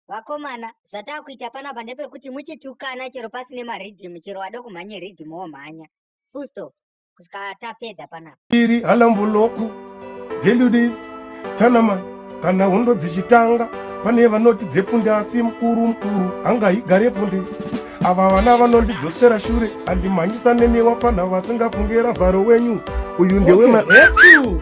Vakomana, zvatakuita panapa ndepekuti muchitukana chero pasine maridhimu chero wade kumhanye ridhimu womhanya. Full stop. Kusvika tapedza panapa. Iri halamboloku, deludis, tanama, kana hondo dzichitanga pane vanoti dzepfunde asi mukuru mukuru angaigare pfunde ava vana vanondidzosera shure andimhanyisa nenewa pfanha vasingafungira zaro wenyu uyu ndewe maepfu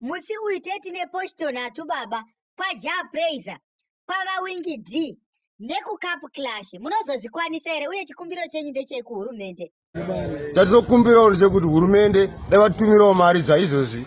musi uyu teti neposhton hatu baba kwajaa praiser kwavawingi d nekucap clash munozozvikwanisa here uye chikumbiro chenyu ndechekuhurumende chatinokumbirawo ndechekuti hurumende dai vatumirawo mari dzaizvozvi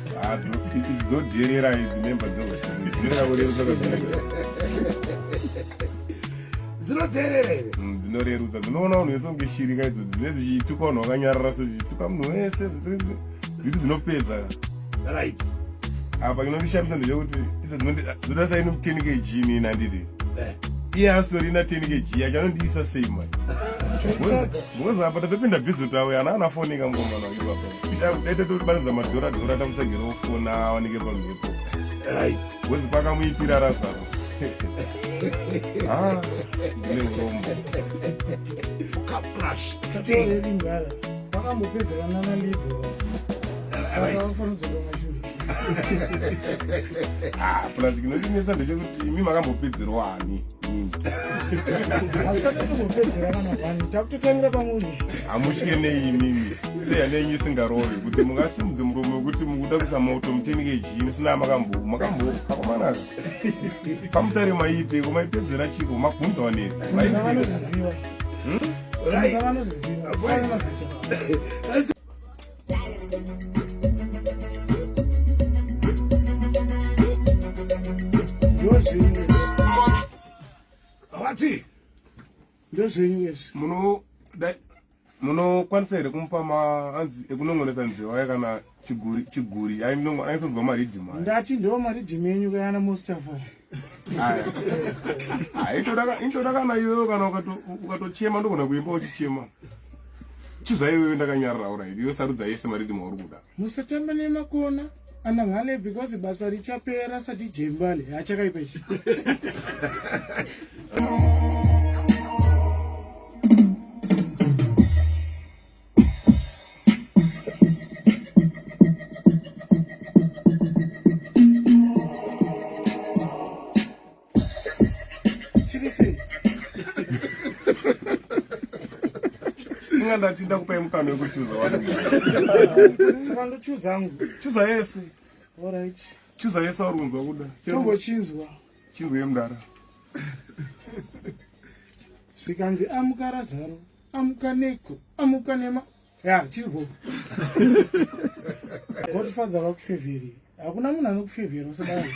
dzodherera idzi memba dzodherera kurerutsa dzinodherera iri mm, dzinorerutsa dzinoona munhu wese kunge shiri ka idzo dzine dzichituka vanhu vakanyarara so dzichituka munhu wese zvese dziti dzinopedza right apa inondishamisa ndezvekuti idzo dzinoda saini muteni kejini ini handiti eh. iye asitorina teni keji yacho anondiisa sei mani ngozi apa tatopinda bhizo tavo yana anafoneka mukomana wake papa Dai tobaridza madhora dhora tamutsvagirawo fona awanike pamhepo. Right. Wezi pakamuitira razaro. Ah, ndine urombo. Kaplash. Sting. Pakamupedzera nana ndigo. Right. Pakamupedzera nana ndigo. Ah, plus chinondinetsa ndechekuti imi makambopedzerwa ani hamutye nei imimi seya nenyu isingarove kuti mungasimudze murume wekuti mukuda kuisa moto mutenike chini sina makambo makambo pakomana pamutare maiite komaipedzera chiko mabvunza wanei vanozviziva hmm? Vati ndozvenyu izvi muno dai munokwanisa here kumupa maanzi ekunongonesa nziwa aye kana chiguri chiguri aisonzwa maridhim ayo ndati ndo maridhim enyu kayana mustafari intoda kana iwewo kana ukatochema ndogona kuimba uchichema chuza iwewe ndakanyarirawo raidi iwe sarudza yese maridhi mauri kuda musatamba nemakona ana ngale because basa richapera sati jembale hachakaipa ichi ndanga ndati ndakupai mukana wekuchuza wanosaka ndochuza hangu chuza yese orit chuza yese auri kunzwa kuda chongochinzwa chinzwa yemudara zvikanzi amukara zaro amuka neko amuka nema ya chirwo godfather vakufevheri hakuna munhu anokufevhera usadaro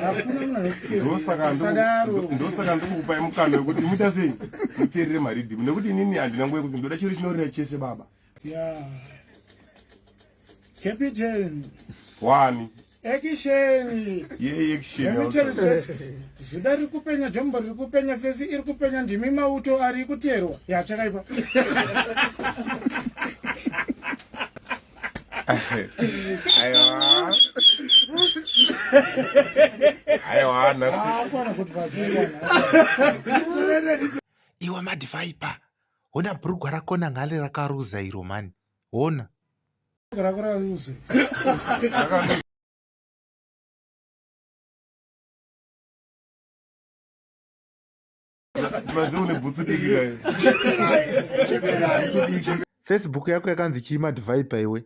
hakuna munhu anokufevherasadorondosaka ndikukupai mukana wekuti muita sei muteerere maridhimu nekuti inini handina nguva yekuti ndoda chiro chinorira chese baba Yeah. Captain. Wani. Ekisheni. Ye ekisheni. Zuda riri kupenya jombo riri kupenya fesi iri kupenya ndimi mauto ari kuterwa. Ya chakaipa. Aiwa. Aiwa nasi. Ah, kwana kuti vajira. Iwa madivaipa. Hona brugwa rako nanhale rakaruza iro mani. Hona. Rakararuze. Facebook yako yakanzi chii madviper iwe.